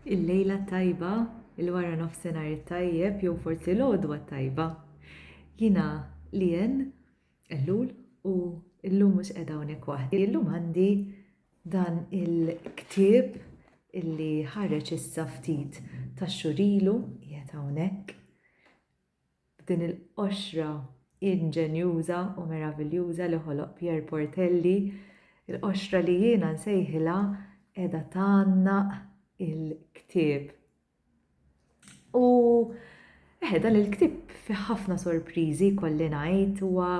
Il-lejla t-tajba, il-wara nofsinhar it-tajjeb jew forsi l-għodwa t-tajba. Jiena Lien Ellul u llum mhux qiegħda hawnhekk waħdi. Illum għandi dan il-ktieb illi ħareġ issa ftit tax-xhur ilu qiegħed hawnhekk. B'din il-qoxra inġenjuża u meraviljuża li ħoloq Pierre Portelli, il-qoxra li jiena nsejħilha qiegħda tgħannaq il-ktieb. U eħe, dan il-ktieb fih ħafna sorpriżi jkolli ngħid, huwa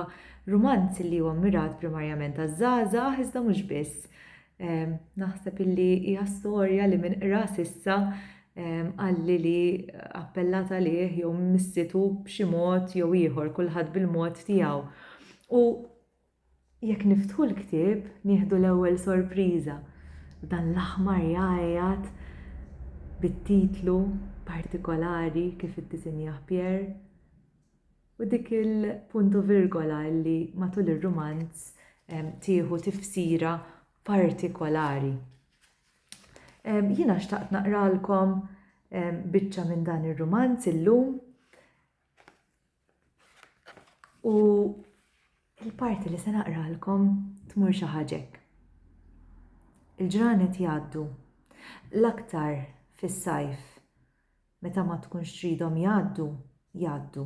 rumanz li huwa mmirat primarjament għaż-żgħażagħ iżda mhux biss. Naħseb illi hija storja li min qra s'issa qalli li appellat għalih jew missitu b'xi mod jew ieħor kulħadd bil-mod tiegħu. U jekk niftħu l-ktieb nieħdu l-ewwel sorpriża dan l-aħmar jgħajjat bit-titlu partikolari kif iddisinjah Pierre U dik il-punt u virgola li matul ir-rumanz tieħu tifsira partikolari. Jiena xtaqt naqralkom biċċa minn dan ir-rumanz illum u l-parti li se naqralkom tmur xi ħaġek. Il-ġranet jgħaddu l-aktar fis-sajf Meta ma tkunx tridhom jgħaddu, jgħaddu.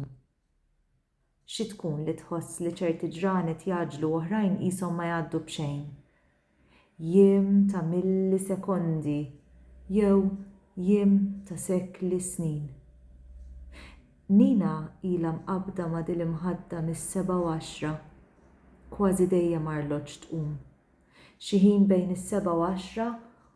Xi tkun li tħoss li ċerti ġranet jgħaġġlu u oħrajn qishom ma jgħaddu b'xejn? Jiem ta' millisekondi jew jiem ta' sekli snin? Nina ilha mqabbda ma' dil-imħadda mis-sebgħa u għaxra. Kważi dejjem arloġġ tqum. Xi ħin bejn is-sebgħa u għaxra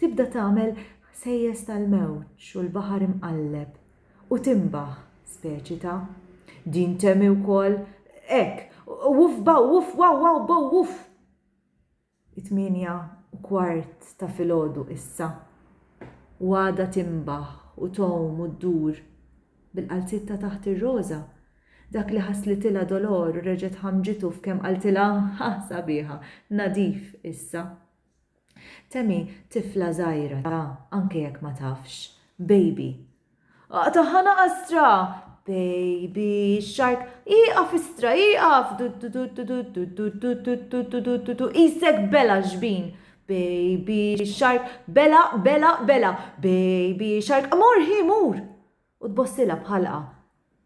Tibda tagħmel ħsejjes tal-mewġ u l-baħar imqalleb u tinbaħ, speċi ta'. Din temi wkoll hekk, Wuff baw wuff waw waw bow wuff! It-tmienja u kwart ta' filgħodu issa, u għadha tinbaħ u tgħum u ddur, bil-qalziet ta' taħt ir-roża, dak li ħasslitilha Dolor u reġgħet ħammġitu f'kemm qaltilha, Ħa sabiħa, nadif issa! Tammy, tifla żgħira, ta, anke jekk ma tafx, baby. Aqtagħha naqastra! Baby shark, ieqaf istra, ieqaf! Duddududu, qisek bela xbin! Baby shark, bela, bela, bela! Baby shark, mur hi, mur! U tbossilha b'ħalqa.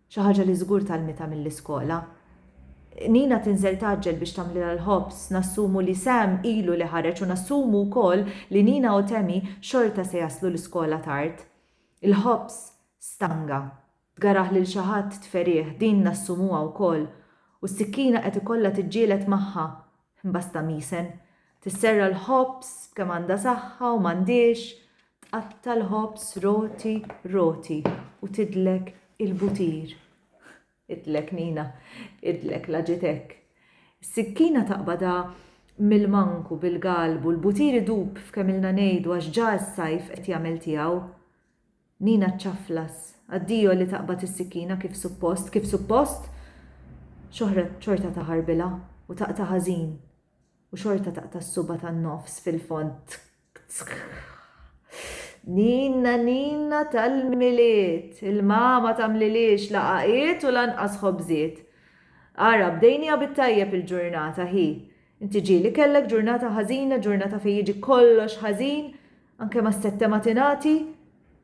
Xi ħaġa li żgur tgħallmitha mill-iskola. Nina tinżel tgħaġġel biex tagħmlilha l-ħobż, nassumu li Sam ilu li ħareġ u nassumu wkoll li Nina u Tammy xorta se jaslu l-iskola tard. Il-ħobż stanga. Tgaraħ lil xi ħadd tferih, din nassumuha wkoll. U s-sikkina qed ikollha tiġġieled magħha. Imbasta misen. Tisserra l-ħobż b'kemm għandha saħħa u m'għandhiex, tqatta' l-ħobż roti roti u tidlek il-butir. Idlek Nina, idlek la ġiet hekk. Is-sikkina taqbadha mill-manku bil-galbu, l-butir idub f'kemm ilna ngħidu għax ġa s-sajf qed jagħmel tiegħu. Nina ċċaflas. Addio li taqbad is-sikkina kif suppost, kif suppost! Xohrat xorta taħarbilha u taqta' ħażin u xorta taqta' s-subgħa tan-nofs fil-fond. Nina, Nina tal-Milied! Il-mama tagħmliliex la għaqiet u lanqas ħobżiet. Ara, bdejnieha bit-tajjeb il-ġurnata, hi! Inti ġieli kellek ġurnata ħażina, ġurnata fejn jiġi kollox ħażin, Anke ma s-sette ma tingħati,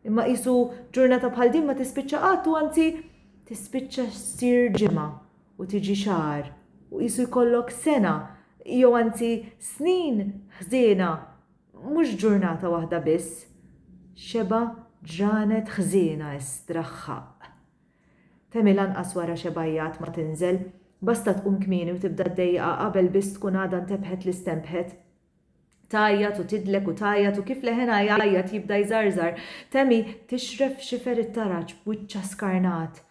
imma qisu ġurnata bħal din ma tispiċċa qatt u anzi tispiċċa ssir ġimgħa u tiġi xahar u qisu jkollok sena jew anzi snin ħżiena mhux ġurnata waħda biss, xebgħa ġranet ħżiena estra ħħaqq. Temi lanqas wara xebgħijat ma tinżel, basta tqum kmieni u tibda ddejjaqha qabel biss tkun għadha ntebħet li stenbħet. Tgħajjat u tidlek u tgħajjat u kif leħenha jgħajjat jibda jżarżar, Tammy tixref f'xifer it-taraġ b'wiċċha skarnat.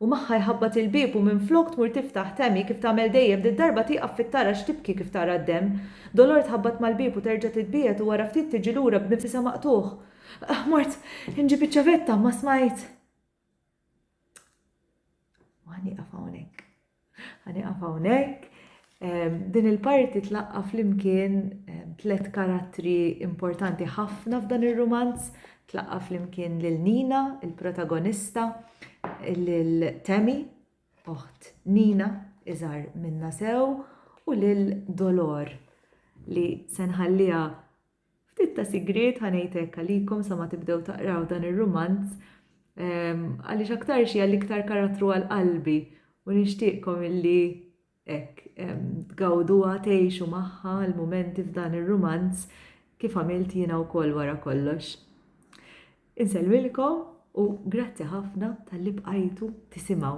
U magħha jħabbat il-bieb u minflok tmur tiftaħ, Tammy, kif tagħmel dejjem, did-darba tieqaf fit-taraġ tibki kif tara d-demm. Dolor tħabbat mal-bieb u terġa' titbiegħed u wara ftit tiġi lura b'nifisha maqtugħ, Mort inġib iċ-ċavetta, ma smajt! U għani għafawnek. Għani għafawnek. Din il-parti tlaqqa fl-imkien tlet karattri importanti ħafna f'dan il-romanz. Tlaqqa fl-imkien l-Nina, il-protagonista, l-Temi, oħt Nina, iżar minna sew, u l-Dolor li senħallija Ftit ta' sigriet, ħa ngħid hekk, għalikom sa ma tibdew taqraw dan ir-rumanz, għaliex aktarx hija l-iktar karattru għal qalbi u nixtieqkom illi hekk tgawduha, tgħixu magħha l-mumenti f'dan ir-rumanz kif għamilt jiena wkoll wara kollox. Insellmilkom u grazzi ħafna talli bqajtu tisimgħu.